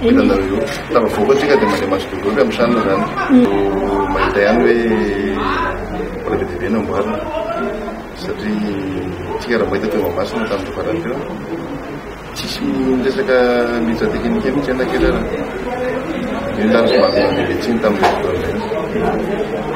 Hitanareo eo, tafavoaka isika dia mandeha maso be goavy amin'ny tranony izany. Vao mahita ihany hoe mbola be dia be no amboarina. Satria isika raha mahita teo Mahamasina tamin'ity farany teo, tsisy resaka militra teknika mihitsy anefa ankehitriny. Io ny lany somary nahamenatra etsy iny tamin'ilay fotoana izay.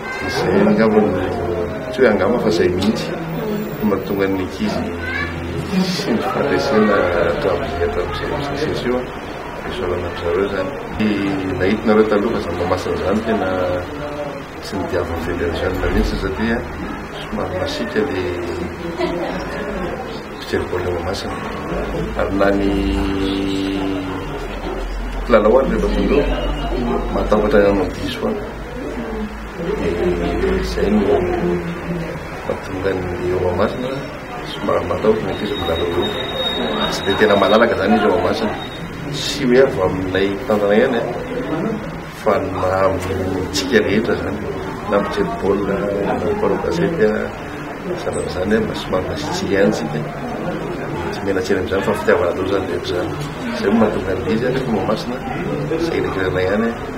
Izay angamba no tsy hoe angamba fa izay mihitsy no mahatonga ny ankizy sendra fandresena hatramin'izay hatramin'izay prosesy io fisaorana amin-dry zareo izany. Ny nahitinareo taloha fa zava-masina izany tena tsy nodiavin'ny federasiona mihitsy satria somary masiaka ilay fijery baolina Mahamasina ary na ny mpilalao ary rehefa tonga eo mahatahotra ny hanao diso any. dia izay no mahatonga ny eo Mahamasina somary matahotra ny ankizy milalao eo. Tsy dia tena malalaka izany izy eo Mahamasina. Tsy hoe avy aminay tanana ihany fa na amintsika rehetra izany na mijery baolina na mpanao gazety sanatry izany mba somary masiatsiaka ihany isika. Tsy mianantsena amin'izany fa fitiavana loza ny rehetra izany. Izay no mahatonga ny izy any eo Mahamasina. Sahirahirana ihany.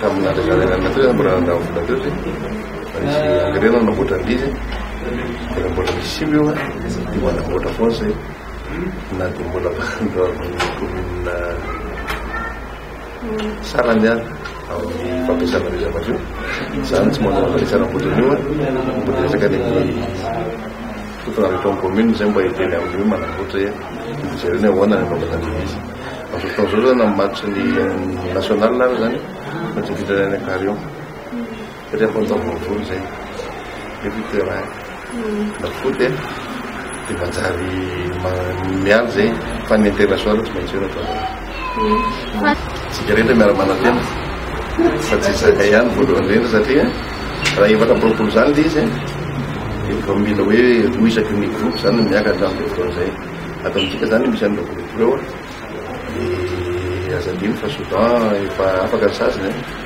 Tamin'ny zazalainan'ny Nataosy aho mbola nandao amin'ny Nataosy fa nisy engrais aho nanamboatra an'ilay izy dia nanamboatra ny simba eo dia manamboatra foana izay na dia mbola mandao amin'ny commune salany aho amin'ny fampiasana an'io zavatra io izany tsy manao an'ilay zana-boatra an'io mbola resaka ny fotona avy eto amin'ny commune izay mba hiteny amin'io manamboatra Jereo ny ahoana ny vaovao tandrifisa. Amin'izao fotoana izao izany amin'ny match ny national ary izany fa tsy mitranga any Ankarion. Satria efa taom-baovao izay. Efa i terrain. Na foot e. Dia manjary miandry izay fa ny international tsy maintsy eo ny ataonareo. Tsika rehetra miara manantena fa tsy isaka ihany voalohany indrindra satria raha efatra amby roapolo izany le izy dia vao mila hoe roa isaky ny groupe izany miaka hatramin'ny voalohany izay ato amintsika izany misy an'ireo groupe ireo dia aza adino fa soudan efa afaka ny sasany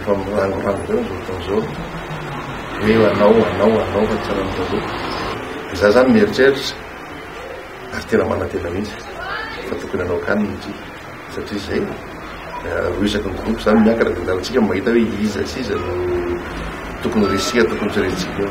Efa mirariraha be amin'izao fotoana izao hoe hanao, hanao, hanao fa tsy raha ny taloha. Dia izaho izany mieritreritra ary tena manantena mihitsy fa tokony hanao akany ny tri satria izay roa isaky ny groupe izany miankina dia hitantsika ny mahita hoe iza sy iza no tokony resika, tokony tsy resika eo.